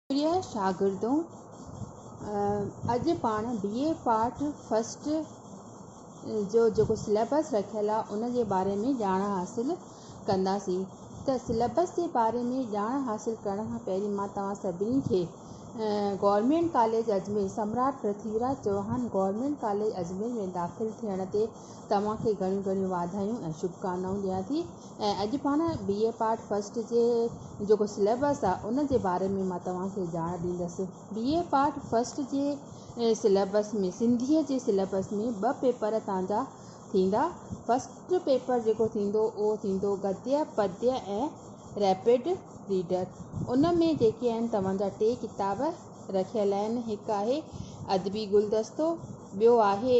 پريا شاگردو! اڄ پاڻ بي اي پارٽ فرسٽ جو جيڪو سليبس رکيل آهي ان جي باري ۾ ڄاڻ حاصل ڪنداسين ته سليبس جي باري ۾ ڄاڻ حاصل ڪرڻ کان پهرين مان توهان سڀني کي گورنمينٽ ڪاليج اجمير سمراٽ پرٿوي راج چوهان گورنمينٽ ڪاليج اجمير ۾ داخل ٿيڻ تي توهان کي گهڻيون گهڻيون واڌايون ۽ شڀڪامنائون ڏيان ٿي ۽ اڄ پاڻ بي اي پارٽ فرسٽ جي جيڪو سليبس آ ان جي باري ۾ مان توهان کي ڄاڻ ڏيندس بي اي پارٽ فرسٽ جي سليبس ۾ سنڌي جي سليبس ۾ ٻه پيپر تان جا ٿيندا فرسٽ پيپر جيڪو ٿيندو اهو ٿيندو گدي پدي ۽ ريپڊ ريڊر ان ۾ جيڪي آهن توهان جا ٽي ڪتاب رکيل آهن هڪ آهي ادبي گلدستو ٻيو آهي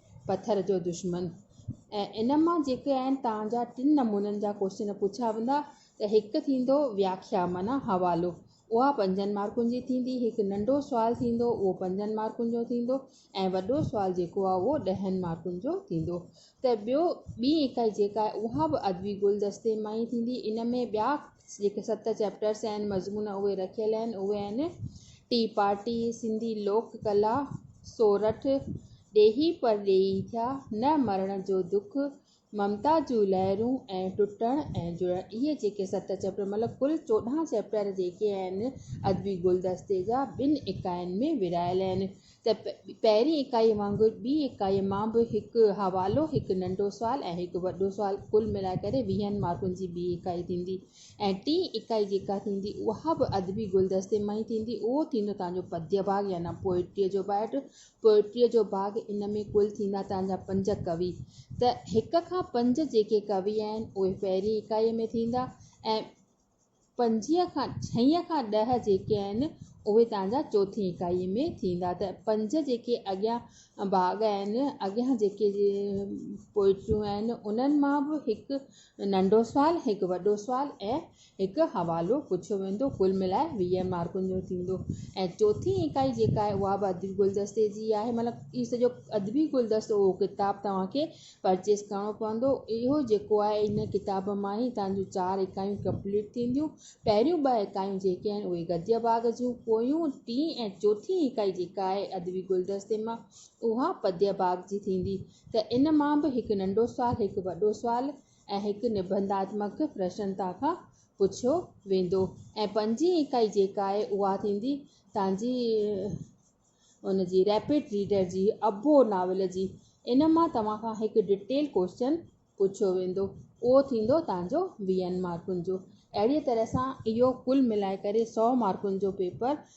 پٿر جو دشمن ۽ ان مان جيڪي آهن تان جا ٽن نمونن جا ڪوشچن پڇيا ويندا ته هڪ ٿيندو وياکيا معنيٰ حوالو اها پنجن مارڪن جي ٿيندي هڪ ننڍو سوال ٿيندو اهو پنجن مارڪن جو ٿيندو ۽ وڏو سوال جيڪو آهي اهو ڏهن مارڪن جو ٿيندو ته ٻيو ٻي اڪائي جيڪا آهي اها به ادبي گلدستي مان ئي ٿيندي ان ۾ ٻيا جيڪي ست چيپٽرس آهن مضمون اهي رکيل آهن اهي آهن ٽي پارٽي سنڌي لوڪ ڪلا سورٺ ڏيهي پرڏيهي ٿيا، نه مرڻ جو دک، ممتا جون لهرون ۽ ٽٽڻ ۽ جڙڻ اهي جيڪي ست چئپٽر مطلب ڪل چوڏهن چئپٽر جيڪي آهن ادبي گلدستي جا ٻن اڪائين ۾ ورهايل آهن ته پهرين اڪائي وانگر ٻي اڪائي مان به هڪ حوالو هڪ ننڍو سوال ۽ هڪ وڏو سوال ڪل ملائي ڪري ويهن مارڪن جي ٻي اڪائي ٿيندي ۽ ٽين اڪائي جيڪا ٿيندي اها به ادبي گلدستي مان ئي ٿيندي اهو ٿيندو تنهنجو پديباغ يعنيٰ پوئٽريء جو بائيٽ پوئٽريء جو باغ ان ۾ ڪل ٿيندا تنهن جا پنج ڪوي ته هڪ کان پنج جيڪي ڪوي آهن اهي پهرين اڪائيء ۾ ٿيندا ۽ پنجيهه کان ڇهين کان ڏهه جيڪي آهن اهي تنهن جا چوٿين اڪائيء ۾ ٿيندا ته پنج جيڪي اڳيان باغ آهن اڳيان جيڪي پوئٽريون آهن انهن مان به هڪ ننڍو سوال هڪ وڏو سوال ۽ هڪ حوالو پڇيو ويندو، ڪل ملائي ويهه مارڪن جو ٿيندو ۽ چوٿين اڪائي جيڪا آهي اها به ادبي گلدستي جي آهي مطلب هي سڄو ادبي گلدستو اهو ڪتاب توهان کي پرچيز ڪرڻو پوندو اهو جيڪو آهي ان ڪتاب مان ئي توهان جون چار اڪايون ڪمپليٽ ٿينديون پهريون ٻه اڪايون جيڪي آهن اهي گديه باغ جون پويون ٽين ۽ چوٿين اڪائي جيڪا آهي ادبي گلدستي مان اها پديه باغ جي ٿيندي ته ان مان به هڪ ننڍو سوال هڪ وڏو سوال ۽ هڪ نبنڌاتمڪ پرشنتا کان پڇيو ويندو ۽ پنجين اڪائي جيڪا آهي اها ٿيندي توهان جي ان جي ريپيڊ ريڊر جي ابو ناول جي ان مان توهان کان هڪ ڊٽيل ڪوشچن پڇيو ويندو اهو ٿيندو توهان جو ويهن مارڪن جو اهڙي طرح سان اهو ڪل ملائي ڪري سؤ مارڪن جو پيپر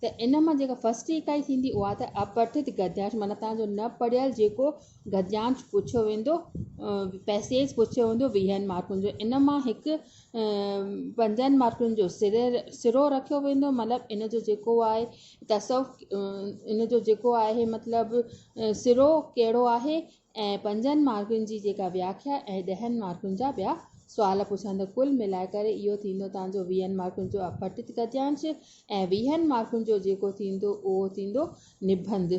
ته ان مان جيڪا فرسٽ اڪائي ٿيندي اها ته اپٺت گديانش معنيٰ تان جو نه پڙهيل جيڪو گديانش پڇيو ويندو پئسيج پڇيو ويندو ويهن مارڪن جو ان مان هڪ پنجن مارڪن جو سري سرو رکيو ويندو مطلب ان جو جيڪو آهي تصوف ان جو جيڪو آهي مطلب سرو ڪهڙو آهي ۽ پنجن مارڪن جي جيڪا وياکيا ۽ ڏهن مارڪن جا ٻيا سوال پڇان ته ڪل ملائي ڪري اهو ٿيندو تان جو ويهن مارڪن جو اپٺت گديانش ۽ ويهن مارڪن جو جيڪو ٿيندو اهو ٿيندو نبنڌ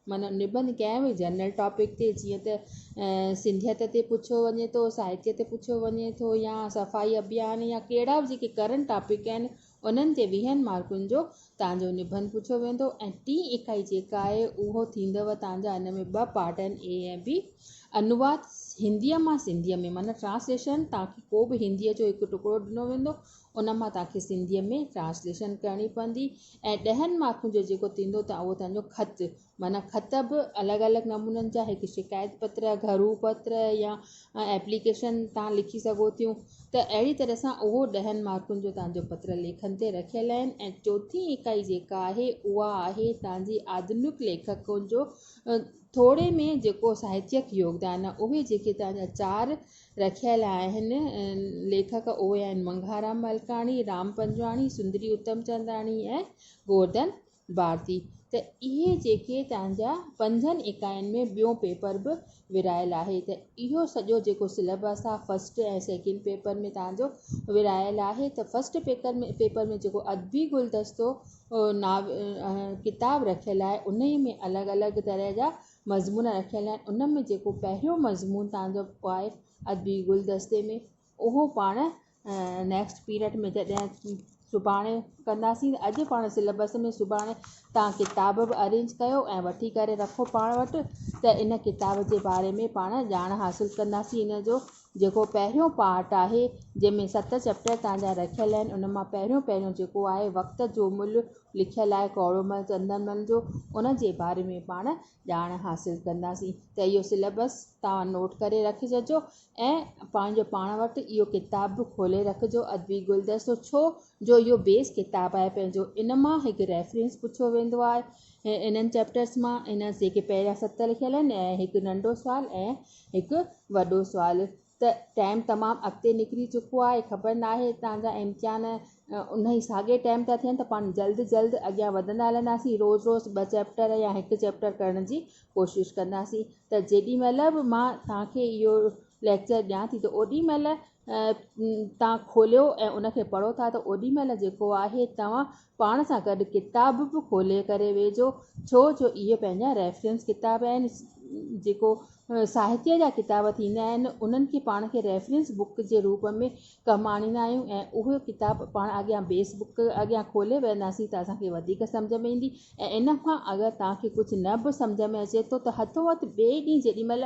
معنيٰ نبنڌ ڪنهن به جنرل ٽاپڪ تي جيئن ته سنڌيت تي پڇيو وڃي ٿو ساهتيه تي پڇيو وڃي ٿو يا صفائي ابيان يا ڪهڙا به جيڪي ڪرنٽ ٽاپڪ آهن انهن جي ويهن مارڪن جو تان جو نبند پڇيو ويندو ۽ ٽين اڪائي جيڪا آهي اهو ٿيندو تان جا ان ۾ ٻه پارٽ آهن اي ۽ بي انواد هنديء مان سنڌيء ۾ معنيٰ ٽرانسليشن تان کي ڪو به هنديء جو هڪ ٽڪرو ڏنو ويندو ان مان تان کي سنڌيء ۾ ٽرانسليشن ڪرڻي پوندي ۽ ڏهن مارڪن جو جيڪو ٿيندو تان اهو تان جو خط معنيٰ خط به الڳ الڳ نمونن جا هڪ شڪايت پتر گهرو پتر يا ايپليڪيشن تان لکي سگهو ٿيون ته اهڙي طرح سان اهو ڏهن مارڪن جو تنهنجو پتر ليکن تي رکيل آهن ۽ چوٿين اڪائي جيڪا آهي اها آهي تنهنجي آڌنڪ ليکڪن جو ٿوري ۾ جيڪو ساهتيڪ يوگدان آهي اهي جيڪي تنهنجا چار رکيل آهن ليکڪ اهي آهن منگهارام ملڪاڻي رام پنجواڻي سندري اتمچنداڻي ۽ گورڌن ڀارتي ته اهي جيڪي تنهنجا پنجن اڪائين ۾ ٻيون پيپر به ورهايل آهي ته اهو سڄو جيڪو سليبس آهي فرسٽ ۽ سيڪنڊ پيپر ۾ تنهنجو ورهايل آهي ته فرسٽ پيپر ۾ پيپر ۾ جيڪو ادبي گلدستو ناو ڪتاب رکيل آهي انهي ۾ الڳ الڳ طرح جا مضمون رکيل آهن ان ۾ جيڪو پهريون مضمون تنهنجو آهي ادبي گلدستي ۾ اهو پاڻ نيڪسٽ پيريڊ ۾ جڏهن سڀاڻي ڪنداسين اڄ پاڻ سليبس ۾ سڀاڻي تان ڪتاب به ارينج ڪيو ۽ وٺي ڪري رکو پاڻ وٽ ته ان ڪتاب جي باري ۾ پاڻ ڄاڻ حاصل ڪنداسين ان جو جيڪو پهريون پارٽ آهي جنهن ۾ ست چيپٽر تان جا رکيل آهن ان مان پهريون پهريون جيڪو آهي وقت جو ملهه لکيل آهي ڪوڙو مل چندن مل جو ان جي باري ۾ پاڻ ڄاڻ حاصل ڪنداسين ته اهو سليبس توهان نوٽ ڪري رکججو ۽ پنهنجو پاڻ وٽ اهو ڪتاب به کولي رکجو ادبي گلدستو ڇو جو اهو بيس ڪتاب آهي پنهنجو ان مان هڪ ريفرنس پڇيو ويندو آهي انهن چيپٽرس مان انهن جيڪي پهريان ست لکيل آهن ۽ هڪ ننڍو سوال ۽ هڪ وڏو سوال ته ٽائيم تمام اڳتي نڪري چڪو آهي خبر ناهي هتان جا امتحان انهي ساڳي ٽائيم ٿا ٿين ته پاڻ جلد جلد اڳيان وڌندا هلنداسين روز روز ٻه چيپٽر يا هڪ چيپٽر ڪرڻ جي ڪوشش ڪنداسين ته جيڏي مهل به مان توهان کي اهو ليڪچر ڏيان ٿي ته اوڏي مهل توهان کوليو ۽ ان کي پڙهو ٿا ته اوڏي مهل جيڪو آهي توهان پاڻ سان گڏ ڪتاب به کولي ڪري ويجهو ڇو جو اهي پنهنجا ريفرنس ڪتاب آهن جيڪو ساهتيه جا ڪتاب ٿيندا آهن انهن کي پاڻ کي ريفرنس بڪ جي روپ ۾ ڪم آڻيندا آهيون ۽ اهي ڪتاب پاڻ اڳيان بيس بڪ اڳيان کولي ويهنداسين ته اسان کي وڌيڪ سمجهه ۾ ايندي ۽ ان کان اگر توهان کي ڪجهه نه به سمجهه ۾ اچي ٿو ته هٿو هٿ ٻئي ڏينهن جيڏي مهل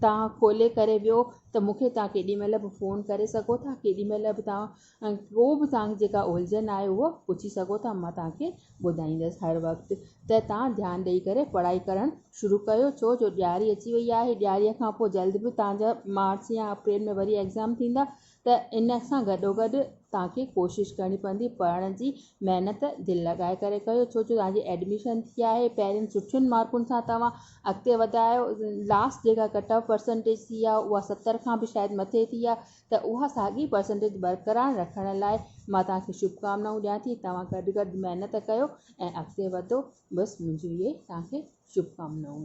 توهان کولي ڪري ويهو ته مون کي توهان ڪيڏي مهل به فون ڪري سگهو ٿا ڪيڏي مهل به توهان ڪو به توهان کي جيڪا الجهن آهي اهو پڇي سگهو ٿا مان توهان کي ٻڌائيندس هر وقت ته توهان ڌيان ڏئي ڪري پڙهائي ڪرڻ شروع ڪيو ڇو جو ڏياري اچي وئي آهي ڏياري کان پوء جلد به توهان جا مارچ يا اپريل ۾ وري ايگزام ٿيندا ته ان سان گڏوگڏ توهان کي ڪوشش ڪرڻي پوندي پڙهڻ جي محنت دل لڳائي ڪري ڪيو ڇو جو توهان جي ايڊميشن ٿي آهي پهرين سٺين مارڪن سان توهان اڳتي وڌايو لاسٽ جيڪا ڪٽ آف پرسنٽيج ٿي آهي اها ستر کان به شايد مٿي ٿي آهي ته اها ساڳي پرسنٽيج برقرار رکڻ لاء مان توهان کي شڀڪامنائون ڏيان ٿي توهان گڏ گڏ محنت ڪيو ۽ اڳتي وڌو بس منهنجون اهي توهان کي شڀڪامنائون.